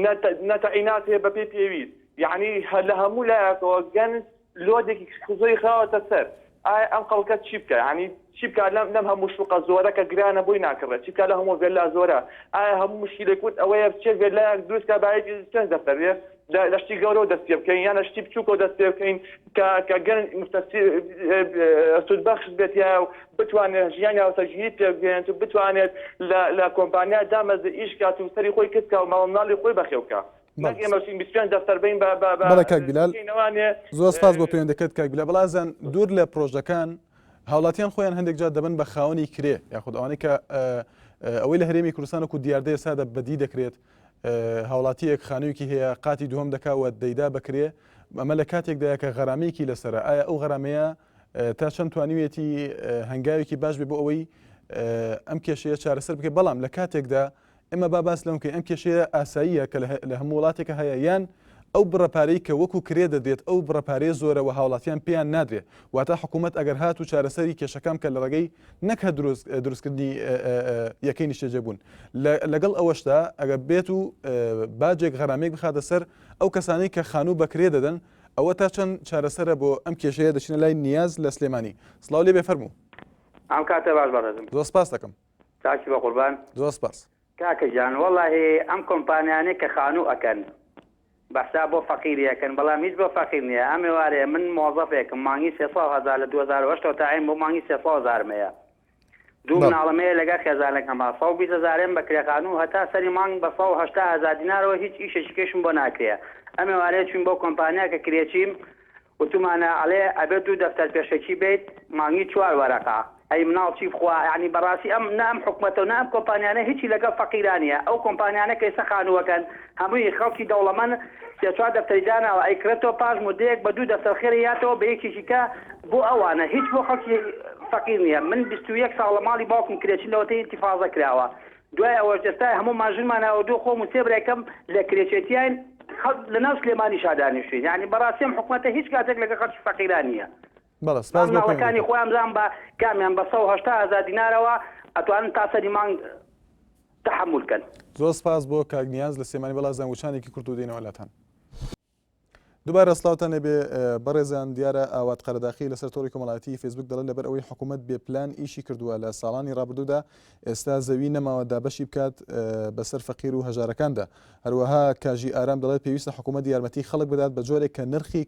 نە تە نە تەعینات هەیە بەپێی پێویست یەعنی هە لە هەموو لایەکەوە گەنج لۆدێکی زۆری خراوەتە سەر ئایا ئەم خەڵکە چی بکا یەعنی چی بکا لەم لەم هەموو شوقە زۆرە کە گرانە بۆی ناکڕێت چی بکا لە هەموو ڤێلا زۆرە ئایا هەموو مشکیلەی کورد ئەوەیە بچێ ڤێلایەک دروست کا بایەکی چەند دەفتەر بێ لە شتی گەورەوە دەست پێ بکەین یان لە شتی بچووکەوە دەست پێ بکەین کە کە گەنج متەسیر سودبەخش بێت یا و بتوانێت ژیانی هاوسەرگیری پێبگەێنێت و بتوانێت لە کۆمپانیا دامەز ئیش کات و سەری خۆی کردکە و ماوەمناڵی خۆی بەخێوکە زۆر سپاس بۆ پەیوەندەکەت کاک بلا بەڵازان دوور لە پرۆژەکان هاوڵاتیان خۆیان هەندێک جار دەبن بە خاوەنی کرێ یاخود ئەوانەی کە ئەوەی لە هەرێمی کوردستانەکو دیاردەیە سادە بەدی دەکرێت هاوڵاتییەک خانوویەکی هەیە قاتی دووهەم دەکا و دەیدا بە کرێ، ئەمە لە کاتێکدایە کە غەرامەیەکی لەسەرە، ئایا ئەو غەرامەیە تا چەند توانیویەتی هەنگاوێکی باش بێ بۆ ئەوەی ئەم کێشەیە چارەسەر بکەێت، بەڵام لە کاتێکدا ئێمە با باس لەوە بکەین ئەم کێشەیە ئاساییە کە لە هەموو وڵاتێکە هەیە یان ئەو بڕە پارەی کە وەکو کرێ دەدرێت ئەو بڕە پارەیە زۆرە وە هاوڵاتیان پێیان نادرێ واتا حکومەت ئەگەر هات و چارەسەری کێشەکان بکە لەڕێگەی نەک هەر دروستکردنی یەکەی نیشتەجێ بوون لەگەڵ ئەوەشدا ئەگەر بێت و باجێک غەرامێک بخاتە سەر ئەو کەسانی کە خانوو بەکرێ دەدەن ئەوە تا چەند چارەسەرە بۆ ئەم کێشەیە دەچینە لای نیاز لە سلێمانی سڵاو لێ بێ فەرموو ئەم کاتە باش بەڕێزم زۆر سپاس دەکەم تاکی بە قوربان زۆر سپاس. کاکە گیان وەڵاهی ئەم کۆمپانیانەی کە خانوو ئەکەن بە حساب بۆ فەقیری ئەکەن بەڵام هیچ بۆ فەقیر نیە ئەم ئێوارەیە من مۆزەفێکم مانگی سێ سەد هەزار لە دوو هەزار و هەشت ەوە تاعین بۆ مانگی سێ سەد هەزارم هەیە دوو بەڵێ مناڵم هەیە لەگەر خێزانەکەمە سەد و بیست هەزارێم بە کرێ خانوو هەتا سەری مانگ بە سەد و هەشتا هەزار دینارەوە هیچ ئیشێکی کەشم بۆ ناکرێ ئەم ئێوارەیە چووین بۆ کۆمپانیا کە کرێچیم وتمانە ئەڵێ ئەبێ دوو دەفتەر پێشەکی بێیت مانگی چوار وەرەقە ئەی مناڵ چی بخوا یەعنی بەڕاستی ئەم نە ئەم حکومەتەو نە ئەم کۆمپانیانە هیچی لەگەڵ فەقیرا نیە ئەو کۆمپانیانە کەیسە خانووەکەن هەمووی خەڵکی دەوڵەمەن سێ چوار دەفتەری داناوە ئەی کرێتەوە پاش مودەیەک بە دوو دەفتەر خێری یاتەوە بە یەکێکی کە بۆ ئەوانە هیچ بۆ خەڵکی فەقیر نیە من بیست و یەک ساڵە ماڵی باوکم کرێچی لەوەتەی ئینتیفازە کراوە دوای ئەوەش ئێستا هەموومان ژنماناوە دوو خۆم و سێ برای کەم لە کرێچێتیاین خەڵک لە ناو سلێمانیشا دانیشتووین یانی بەڕاستی ئەم حکومەتە هیچ کاتێک لەگەڵ خەڵکی فەقیران نییە بەڵێ سپاس بۆ پێم مناڵەکانی خۆیان بزان بە کامیان بە سەد و هەشتا هەزار دینارەوە ئەتوانن تا سەری مانگ تەحەمول کەن. زۆر سپاس بۆ کاک نیاز لە سلێمانی بەڵێ زەنگ وچانێکی کورت و دێینەوە لاتان. دوبارە سڵاوتان لێبێ بەڕێزان دیارە ئاوات قەرەداخی لەسەر تۆری کۆمەڵاتی فیسبوک دەڵێت لەبەر ئەوەی حکوومەت بێ پلان ئیشی کردووە لە ساڵانی ڕابردوودا ئێستا زەوی نەماوە دابەشی بکات بەسەر فەقیر و هەژارەکاندا هەروەها کاژی ئارام دەڵێت پێویستە حکوومەت یارمەتی خەڵک بدات بە جۆرێک کە نرخی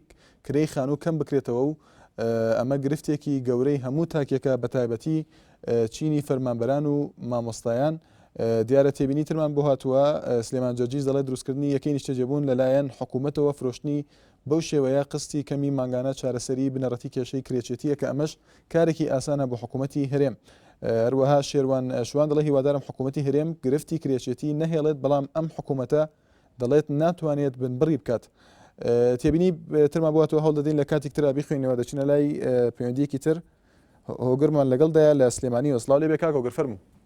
کرێی خانوو کەم بکرێتەوە و ئەمە گرفتێکی گەورەی هەموو تاکێکە بە تایبەتی چینی فەرمانبەران و مامۆستایان دیارە تێبینی ترمان بۆ هاتووە، سلێمان جەرجیس دەڵێت، دروستکردنی یەکەی نیشتەجێبوون لەلایەن حکومەتەوە فرۆشتنی بەو شێوەیە قستی کەمی مانگانە چارەسەری بنەڕەتی کێشەی کرێچێتییە کە ئەمەش کارێکی ئاسانە بۆ حکومەتی هەرێم. هەروەها شێروان شوان دەڵێت، هیوادارم حکومەتی هەرێم گرفتی کرێچێتی نەهێڵێت، بەڵام ئەم حکومەتە دەڵێت ناتوانێت بنبڕی بکات. تێبینی ترمان بۆ هاتووە، هەوڵدەدەین لە کاتێک ترا بیخوێنەوە، دەچینە لای پەیوەندییەکی تر هۆگرمان لەگەڵدایە لە سلێمانیەوە. سڵاو لێبێ کاک هۆگر، فەرموو.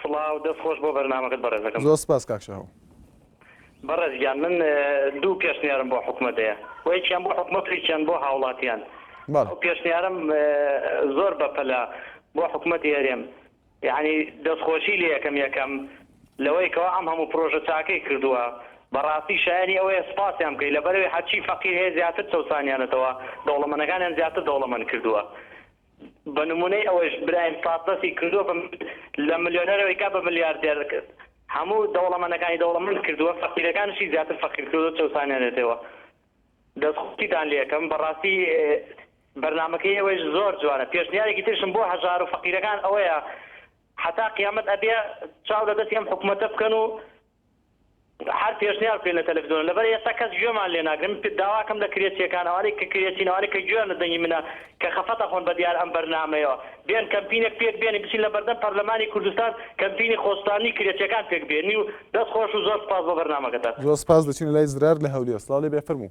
سڵاو دەست خۆش بۆ بەرنامەکەت بەڕێزەکەم. زۆر سپاس کاک شاهۆ. بەڕێز گیان من دوو پێشنیارم بۆ حکومەت هەیە و یەکیان بۆ حکومەت و یەکیان بۆ هاوڵاتیان. ئەو پێشنیارم زۆر بەپەلە بۆ حکومەتی هەرێم یەعنی دەستخۆشی لێ یەکەم یەکەم لەوەی کەوا ئەم هەموو پرۆژە چاکەی کردووە بەڕاستی شایەنی ئەوەیە سپاسیان بکەی لەبەرەوەی هەرچی فەقیر هەیە زیاتر چەوسانیانەتەوە دەوڵەمەنەکانیان زیاتر دەوڵەمەن کردووە بە نمونەی ئەوەش برایم پاس دەستی کردوە بە لە ملیۆنەرەوەی کا بە ملیاردێر هەموو دەوڵەمەنەکانی دەوڵەمەند کردوە فەقیرەکانشی زیاتر فەقیر کردوە چەوسانێنێتەوە دەست خۆشی تان لێ ئەکەم بەڕاستی بەرنامەکەی ئێوەش زۆر جوانە پێشنیارێکی ترشم بۆ هەژار و فەقیرەکان ئەوەیە حەتا قیامەت ئەبێ چاو لە دەستی ئەم حکومەتە بکەن و هەر پێشنیار بکەین لە تەلەفزیۆن لەبەر ئێستا کەس گوێمان لێ ناگرن من داواکەم لە کرێچیەکان ئەوانەی کە کرێچین ئەوانەی کە گوێیان لە دەنگی منە کە خەفەت ئەخۆن بە دیار ئەم بەرنامەیەوە بێن کەمپینێک پێک بێنین بچین لە بەردەم پەرلەمانی کوردستان کەمپینی خۆسوتاندنی کرێچیەکان پێک بێنی و دەست خۆش و زۆر سوپاس بۆ بەرنامەکەتان. زۆر سپاس دەچینە لای زرار لە هەولێر. سڵاو لێبێ فەرموو.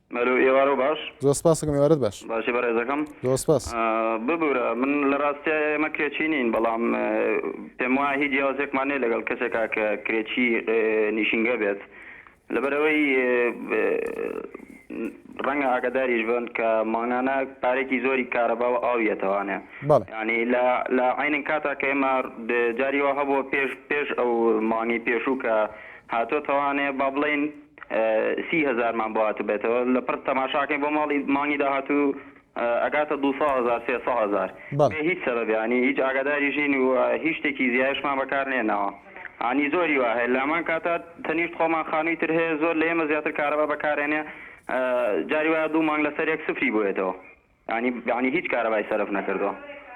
ئەلۆ ئێوارۆ باش. زۆر سپاست کم ئێوارەت باش. باشی بەڕێزەکەم. زۆر سپاس. ببورە من لە ڕاستیا ئێمە کرێچی نین بەڵام پێم وایە هیچ جیاوازێکمان نیە لەگەڵ کەسێکا کە کرێچی نیشینگە بێت لەبەر ئەوەی ڕەنگە ئاگاداریش بن کە مانگانە پارێکی زۆری کارەبا و ئاو یەتەوانێ بەڵێ ینی لە لە عینن کاتا کە ئێمە جاری وا هەبووە پێش پێش ئەو مانگی پێشوو کە هاتۆتەوانێ با بڵێین سی هەزارمان بۆ هاتبێتەوە لە پڕ تەماشاکەین بۆ ماڵی مانگی داهاتوو ئەگاتە دوو سەد هەزار سێ سەد هەزار بێ هیچ سەبەبێ هەنی هیچ ئاگاداریش نین و هیچ شتێکی زیایشمان بەکار نێناوە هەنی زۆری وا هەیە لامان کاتە تەنیشت خۆمان خانووی تر هەیە زۆر لە ئێمە زیاتر کارەبا بەکارێنێ جاری وایە دوو مانگ لەسەر یەک سفری بووێتەوە یانی یانی هیچ کارەبای سەرف نەکردوە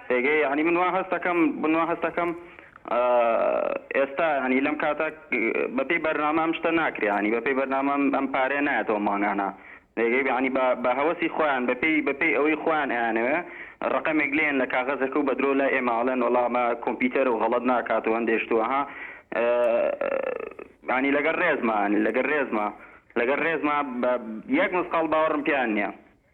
پێگەی یانی من وا هەستەکەم من وا هەستەکەم ئێستا یانی لەم کاتە بەپێی بەرنامە ئەم شتە ناکرێ یانی بەپێی بەرنامە ئەم پارەیە نایەتەوە مانگانە پێگەی یانی بە بە هەوەسی خۆیان بەپێی بەپێی ئەوەی خۆیان ئەیانەوێ ڕەقەمێک لێن لە کاغەزەکە و بەدرۆ لای ئێمە ئەڵێن وەڵا ئەمە کۆمپیوتەر و غەڵەت ناکات و هەندێ شت وەها یانی لەگەڵ ڕێزما یانی لەگەڵ ڕێزما لەگەڵ ڕێزما بە یەک مسقاڵ باوەڕم پێیان نییە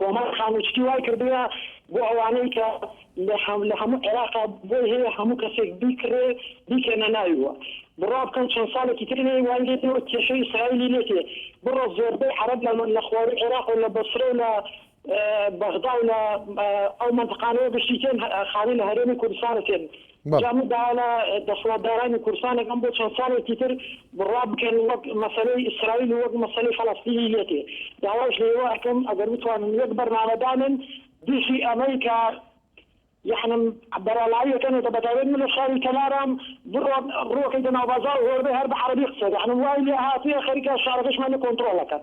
کۆمار خانوچکی وای کردوە بۆ ئەوانەی کە لە هەموو عێراقا بۆی هەیە هەموو کەسێک بیکڕێ بیکەنە ناوی و بڕا بکەن چەند ساڵێکی تر لێی وای لێ دێ و کێشەی ئیسرائیلی لێ تێ بڕە زۆربەی عەرەب لە خوارووی عێراق و لە بەسرە و لە بەغدا و لە ئەو مەنتقانەیە بشیتێن خاوی لە هەرێمی کوردستانە تێن جا مدعانا دەسڵاتدارانی کوردستانێک ئەم بۆ چەند ساڵێکی تر بڕوا بکەن وەک مەسەلەی ئیسرائیل و وەک مەسەلەی فەلەستینی لێتێ داواش لە ئێوە ئەکەم ئەگەر بتوانن یەک بەرنامە دانێن دژی ئەمەی کە یەعنی بەرەڵایی ئەکەنێتە بەتایبەت من لە شاری کەلارام بڕۆ ڕووەکەیتە ناو بازاڕ و هۆربەی هەر بە عەرەبی قسە ئەکا یەعنی وای لێ هاتوویە خەریکە شارەکەشمان لێ کۆنتڕۆڵ ئەکەن.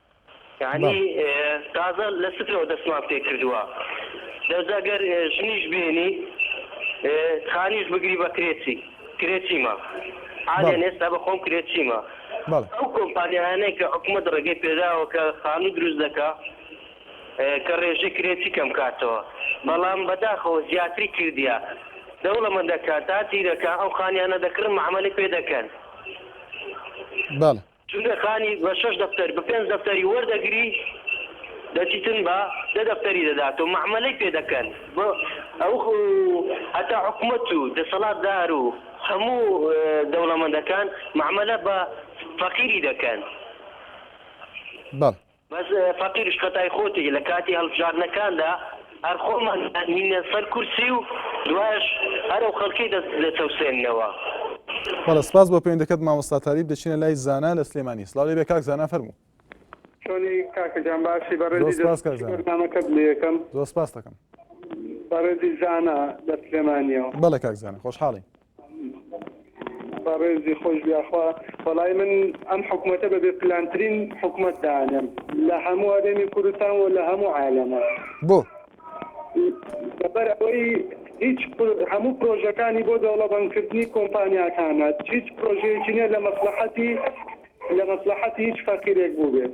یانی تازە لە سترەوە دەستمان پێ کردووە دەزە گەر ژنیش بێنی خانیش بگری بە کرێچی کرێچیمە حالیان ئێستا بە خۆم کرێچیمە ئەو کۆمپانیایانەی کە حکومەت ڕێگەی پێداوە کە خانوو دروست دەکا کە ڕێژەی کرێچی کەم کاتەوە بەڵام بەداخەوە زیاتری کردیە دەوڵەمەندەکان تا تیرەکە ئەو خانیانە دەکڕن مەعەمەلی پێ دەکەن. چونکە خانی بە شەش دەفتەر بە پێنج دەفتەری وەردەگری دەچیتن بە دە دەفتەری دەداتەوە مەعمەلەی پێ دەکەن بە ئەو هەتا حکومەت و دەسەڵات دار و هەموو دەوڵەمەندەکان مەعمەلە بە فەقیری دەکەن. بەڵێ. بەس فەقیرش خەتای خۆتی لە کاتی هەڵبژاردنەکاندا هەر خۆمان دانینە سەر کورسی و دوایش هەر ئەو خەڵکەی دەچەوسێننەوە. بەڵێ سپاس بۆ پەیوەندەکەت مامۆستا تالیب دەچینە لای زانا لە سلێمانی سڵاو لێبێ کاک زانا فەرموو. چۆنی کاکە گیان باشی بەڕێزی دەستخۆش بەرنامەکەت لێیەکەم زۆر سپاستەکەم بەڕێزی زانا لە سلێمانیەوە. بەڵێ کاک زانا خۆشحاڵین. بەڕێزی خۆش بیاخوا بەڵای من ئەم حکوومەتە بە بێ پلانترین حکوومەت دانێم لە هەموو ئەرێمی کوردستان و لە هەموو عالەمە بۆ لەبەر ئەوەی هیچ هەموو پرۆژەکانی بۆ دەوڵەبندکردنی کۆمپانیاکانە هیچ پرۆژەیەکی نیە لە مەسلحەتی لە مەسلحەتی هیچ فەقیرێک بوو بێت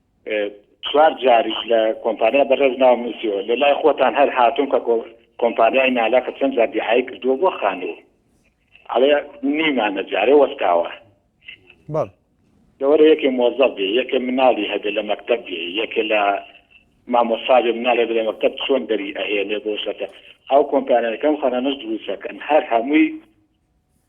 چوار جاریش لە کۆمپانیا بەڕێز ناوم نووسیوە لە لای خۆتان هەر هاتوون کە کۆمپانیای نالاقە چەند جار دیعای کردووە بۆ خانوو ئەڵێ نیمانە جارێ وەستاوە بەڵ لەوەرە یەکێ مۆزەڵ بێ یەکێ مناڵی هەبێ لە مەکتب بێ یەکێ لە مامۆساێ مناڵێ لە مەکتب چۆن دەری ئەهێنێ بۆ شەکە ئەو کۆمپانیەکەم خەرەنەش دروستەکەن هەر هەمووی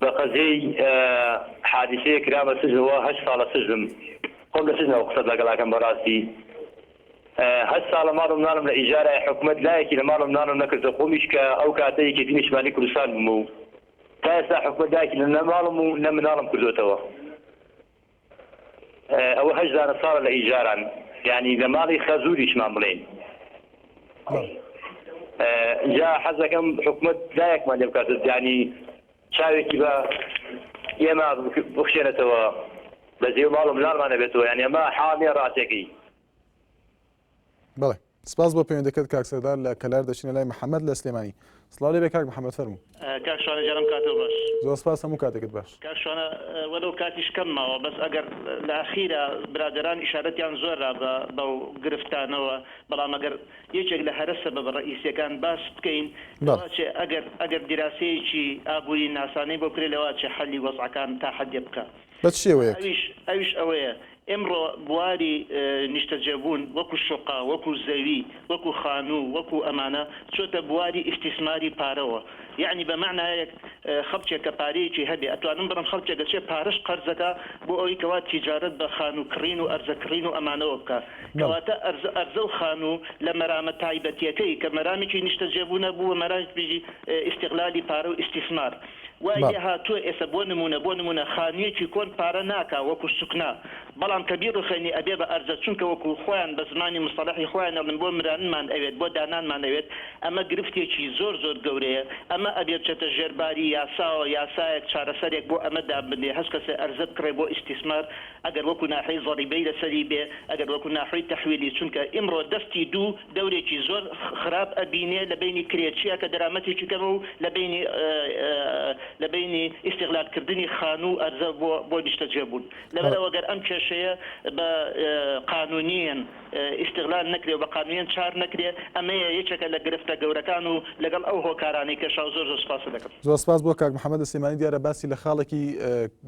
بە قەزیەی حادیسەیە کرامە سجن وە هەشت ساڵە سجنم خۆم لە سجنەوە قسەت لەگەڵ ئەکەم بەڕاستی هەشت ساڵە ماڵ و مناڵم لە ئیجارایە حکومەت لایەکی لە ماڵ و مناڵم نەکردە خۆمیش کە ئەو کاتە یەکێتی نیشتمانی کوردستان بووم و تا ئێستا حکومەت لایەکی لە نە ماڵم و نە مناڵم کردۆتەوە ئەوە هەشت دانە ساڵە لە ئیجاران یانی لە ماڵی خەزوریشمان بڵێین جا حەزەکەم حکومت لایەکمان لێ بکات دانی چاوێکی بە ئێمە بخشێنێتەوە بە زێو ماڵ و مناڵمانە بێتەوە یان ئێمە حاڵێ ڕاتێکی بڵێ سپاس بۆ پەیوەندەکەت کاک سەردار لە کەلار دەچینە لای محمد لە سلێمانی سڵاو لێبێ کاک محمد فەرموو. کاک شوانە گیانم کاتو باش. زۆر سپاس هەموو کاتێکت باش. کاک شوانە وەلەو کاتیش کەم ماوە بەس ئەگەر لە ئەخیرا برادەران ئیشارەتیان زۆر را بە بەو گرفتانەوە بەڵام ئەگەر یەکێک لە هەرە سەبەبە ڕەئیسیەکان باس بکەین لەوە چێ ئەگەر ئەگەر دیراسەیەکی ئابووری ناسانەی بۆ بکرێ لەوە چێ حەلی وەزعەکان تا حەدێ بکا بە چ شێوەیەک؟ ئەویش ئەویش ئەوەیە ئێمڕۆ بواری نیشتەجێبوون وەکو شوقە، وەکو زەوی، وەکو خانوو، وەکو ئەمانە چۆتە بواری ئیستیسماری پارەوە. یەعنی بە مەعنایەک خەڵکێک کە پارەیەکی هەبێ ئەتوانم بڕم خەڵکێک دەچێ پارەش قەرز دەکا بۆ ئەوەی کەوا تیجارەت بە خانوو کڕین و ئەرزە کڕین و ئەمانەوە بکا. کەواتە ئەرزە ئەرزە و خانوو لە مەرامە تایبەتیەکەی کە مەرامێکی نیشتەجێبوونە بووە مەرامێکی ئیستغلالی پارە و ئیستیسمار. وای لێ هاتووە ئێسە بۆ نموونە بۆ نموونە خانوویەکی کۆن پارە ناکا وەکو سوکنا بەڵام کە بیڕوخێنی ئەبێ بە ئەرزە چونکە وەکو خۆیان بە زمانی مستەڵەحی خۆیان ئەڵێن بۆ مرانمان ئەوێت بۆ دانانمان ئەوێت ئەمە گرفتێکی زۆر زۆر گەورەیە ئەمە ئەبێ بچێتە ژێر باری یاساوە یاسایەک چارەسەرێک بۆ ئەمە دابنرێ هەچ کەسێ ئەرزە بکڕێ بۆ ئیستیسمار ئەگەر وەکو ناحیەی زەڕیبەی لەسەری بێ ئەگەر وەکو ناحوەی تەحویلی چونکە ئیمڕۆ دەستی دوو دەورێکی زۆر خراپ ئەبینێ لە بەینی کرێچیە کە دەرامەتێکی کەمە و لە بەینی لە بەینی ئیستیغلال کردنی خانوو و ئەرزە بۆ بۆ نیشتەجێ بوون لەبەر ئەوە گەر ئەم کێشەیە بە قانونیەن ئیستیغلال نەکرێ و بە قانونیەن چار نەکرێ ئەمەیە یەکێکە لە گرفتە گەورەکان و لەگەڵ ئەو هۆکارانەی کێشاو زۆر زۆر سوپاست دەکەم. زۆر سپاس بۆ کاک محمد سلیمانی دیارە باسی لە خاڵێکی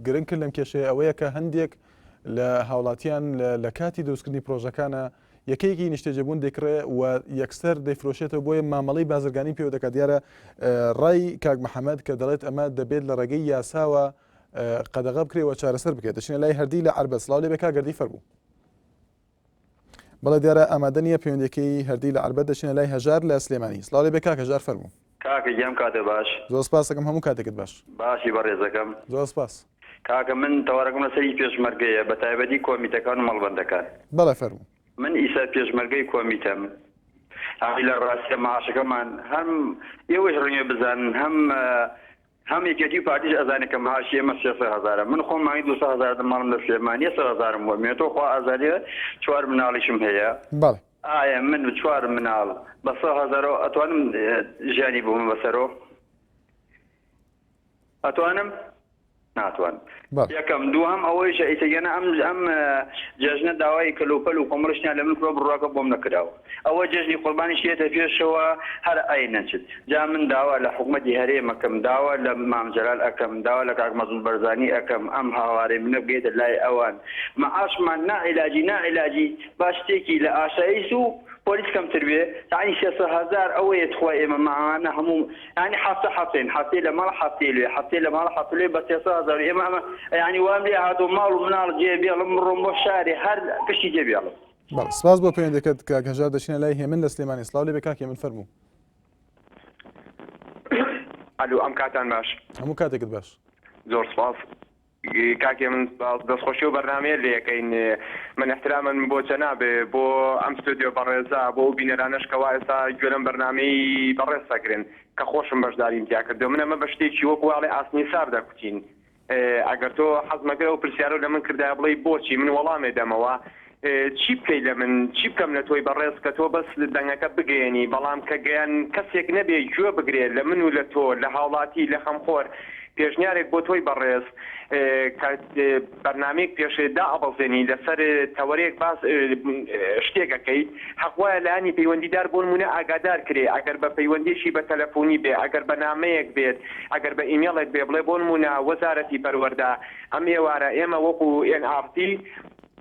گرنگ کرد لەم کێشەیە ئەوەیە کە هەندێک لە هاوڵاتیان لە کاتی دروستکردنی پرۆژەکانە یەکەیەکی نیشتەجێبوون دەیکڕێ و یەکسەر دەیفرۆشێتەوە بۆیە مامەڵەی بازرگانی پێوە دەکات دیارە ڕای کاک محەممەد کە دەڵێت ئەمە دەبێت لە ڕێگەی یاساوە قەدەغە بکرێەوە چارەسەر بکرێت دەچینە لای هەردی لە عربەت سلااو لێ بێ کاگەردی فەربوو بەڵێ دیارە ئامادە نیە پەیوەندەکەی هەردی لە عربەت دەچینە لای هەژار لە سلێمانی سلااو لێ بێ کاک هەژار فەربوو کاکە گیان کاتێ باش. زۆر سپاست ئەکەم هەموو کاتێکت باش. باشی بەڕێزەکەم. زۆر سپاس. کاکە من تەوەرەکەم لەسەر ی پێشمەرگەیە بەتایبەتی کۆمیتەکان و مەڵبەندەکان. بەڵێ فەرموو. من ئیستا پێشمەرگەی کۆمیتەم ئەی لە ڕاستیا معاشەکەمان هەم ئێوەش ڕەنگە بزانن هەم هەم یەکێتی و پارتیش ئەزانێ کە معاشی ئێمە سێ سەد هەزارە من خۆم مانگی دوو سەد هەزار دەماڵم لە سلێمانیە سەد هەزارم بۆ مێتۆ خوا ئازادیە چوار مناڵیشم هەیە بەڵێ. ئایا من و چوار مناڵ بە سەد هەزارەوە ئەتوانم ژیانی ببەمە سەرۆ ئەتوانم ناتوانم. یەکەم، دووهەم ئەوەیشە ئیتر یەنە ئەم ئەم جەژنە داوای کەلوپەل و کۆمەڵیش نیە لە من کرۆ بڕاکە بۆم نەکراوە ئەوە جەژنی قوربانیش یەتە پێشەوە هەر ئەی نەچت جا من داوا لە حکومەتی هەرێم ئەکەم داوا لە مام جەلال ئەکەم داوا لە کاک مەسعود بەرزانی ئەکەم ئەم هاوارەی منە بگەیتە لای ئەوان معاشمان نا علاجی نا علاجی با شتێکی لە ئاسایس و پۆلیس کەمتر بێ تاعەنی سێ سەد هەزار ئەوەیە تخوا ئێمە مامانە هەموو یانی حەفتە حەفتەین حەفتەی لە ماڵ حەفتەی لوێ حەفتەی لە ماڵ حەفتەی لوێ بە سێ سەد هەزار و ئێمە ئەمە یانی وام لێ هاتووە ماڵ و مناڵ جێ بێڵم بڕۆم بۆ شارێ هەر پشتی جێ بێڵم بەڵێ سپاس بۆ پەیوەندەکەت کاک هەژار دەچینە لای هێمن لە سلێمانی سڵاو لێ بێ کاک هێمن فەرموو ئەلو ئەم کاتان باش هەموو کاتێکت باش زۆر سپاس کاکێ من سپاس دەست خۆشی ئەو بەرنامەیە لێ یەکەین من احترامن بۆ جەناب بۆ ئەم ستۆدیۆ بەڕێزە بۆ ئەو بینەرانەش کە وا ئێستا گوێ لەم بەرنامەی بەڕێز دەگرن کە خۆشم بەشداریم تیا کردو من ئەمە بە شتێکی وەک واڵێ ئاسنی سار دەکوتین ئەگەر تۆ حەزمەکەی ئەو پرسیارە لە من کردای بڵێی بۆچی من وەڵامێ دەمەوە چی بکەی لە من چی بکەم لە تۆی بەڕێز کە تۆ بەس دەنگەکە بگەیەنی بەڵام کە گەیان کەسێک نەبێ گوێ بگرێ لە من و لە تۆ لە هاوڵاتی لە خەمخۆر پێشنیارێک بۆ تۆی بەڕێز کە بەرنامەیەک پێش دائەبەزێنی لەسەر تەوەرێک باس شتێک ئەکەی حەق وایە لایەنی پەیوەندیدار بۆ نمونە ئاگادار کرێ ئەگەر بە پەیوەندیەکی بە تەلەفۆنی بێ ئەگەر بە نامەیەک بێت ئەگەر بە ئیمێڵێک بێ بڵێ بۆ نمونە وەزارەتی پەروەردە ئەم ئێوارە ئێمە وەکو ئێن ئاڕ تی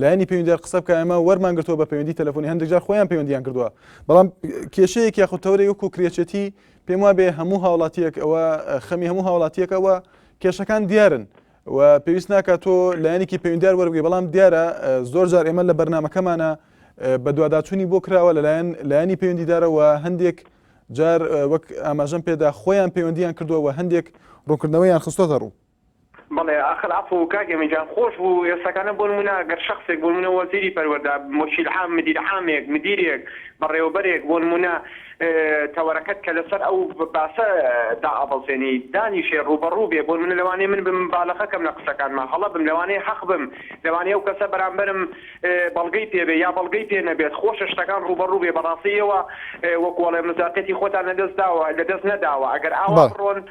لایەنی پەیوەندیدار قسە بکە ئێمە وەرمان گرتووە بە پەیوەندی تەلەفۆنی هەندێک جار خۆیان پەیوەندیان کردووە بەڵام کێشەیەک یاخود تەورەی وەکو کرێچێتی پێم وابێ هەموو هاوڵاتیەک ئەوە خەمی هەموو هاوڵاتیەکەوە کێشەکان دیارن و پێویست ناکات تۆ لایەنێکی پەیوەندار وەرگی بەڵام دیارە زۆر جار ئێمە لە بەرنمەکەمانە بە دوواداچوونی بۆ کراوە لەلایەن لایەنی پەیوەندیدارەوە هەندێک جار وەک ئاماژەم پێدا خۆیان پەیوەندیان کردووە و هەندێک ڕوونکردنەوەیان خستۆتە ڕوو بەڵێ ئاخر عەفوو کاک ئەمین جان خۆش بوو ئێستاکانە بۆ نموونە گەر شەخسێک بۆ نموونە وەزیری پەروەردە موکیل عام مدیر عامێک مدیرێک بەڕێوەبەرێک بۆ نموونە تەوەرەکەت کە لەسەر ئەو باسە دائەبەزێنی دانیشێ ڕووبەڕوو بێ بۆ نموونە لەوانەیە من بم بالەخە کەم لە قسەکانما هەڵە بم لەوانەیە حەق بم لەوانەیە ئەو کەسە بەرامبەرم بەڵگەی پێ بێ یا بەڵگەی پێ نەبێت خۆشە شتەکان ڕووبەڕوو بێ بەڕاستی ئێوە وەکوو ئەڵێن مصداقیەتی خۆتان لەدەست داوە لەدەست نەداوە ئەگەر ئاوا بڕۆن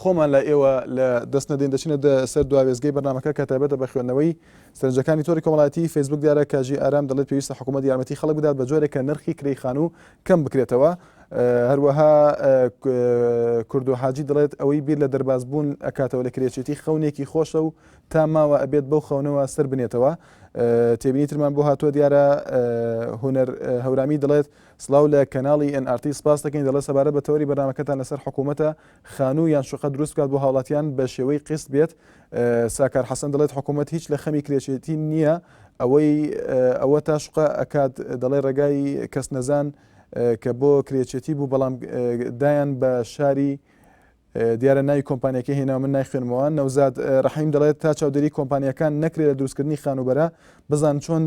خۆمان لای ئێوە لە دەست نەدەین دەچینە دە سەر دوا وێستگەی بەرنامەکە کە تایبەتە بە خوێندنەوەی سەرنجەکانی تۆڕی کۆمەڵایەتیی فەیسبووک دیارە کە ژی ئارام دەڵێت پێویستە حکوومەت یارمەتیی خەڵک بدات بە جۆرێک کە نرخی کرێی خانوو کەم بکرێتەوە هەروەها کوردۆ حاجی دەڵێت ئەوەی بیر لە دەرباز بوون ئەکاتەوە لە کرێچێتی خەونێکی خۆشە و تا ماوە ئەبێت بەو خەونەوە سەر بنێتەوە تێبینی ترمان بۆ هاتووە دیارە هوەر هەورامی دەڵێت سلااو لە کەناڵی NRT سپاس دەکەین دەڵێت سەبارە بە تەوەری بەنامەکەتان لەسەر حکوومەتە خانوو یان شوقە دروست بکات بۆ هاوڵاتیان بە شێوەی قیست بێت، ساکار حەسەن دەڵێت حکوومەت هیچ لە خەمی کرێچێتی نییە، ئەوەی ئەوە تا شوقە ئەکات دەڵێت ڕێگای کەسنەزان کە بۆ کرێچێتی بوو بەڵام دایان بە شاری دیارە ناوی کۆمپانیاکەی هێناوە من نایخوێنمەوە، نەوزاد ڕەحیم دەڵێت تا چاودێری کۆمپانیاکان نەکرێت لە دروستکردنی خانووبەرە بزان چۆن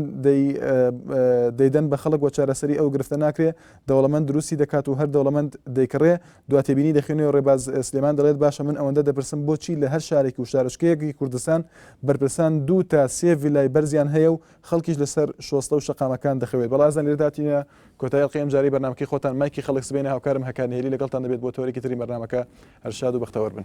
دەیدەن بە خەڵک و چارەسەری ئەو گرفتە ناکرێت، دەوڵەمەند دروستی دەکات و هەر دەوڵەمەند دەیکڕێت، دوا تێبینی دەخوێنێ و ڕێباز سلێمان دەڵێت باشە من ئەوەندە دەپرسم بۆچی لە هەر شارێک و شارۆچکەیەکی کوردستان بەرپرسان دوو تا سێ ڤیلای بەرزیان هەیە و خەڵکیش لەسەر شۆستە و شەقامەکان دەخەوێت بەڵا ئەزان لێرەدا هاتینە کۆتایی ئەڵقەی ئەمجارەی بەرنامەکەی خۆتان مایکی خەڵک سبەینێ هاوکارم هەکار نهێلی لەگەڵتان دەبێت بۆ تۆرێکی تری بەرنامەکە هەر شاد و بەختەوەر بن.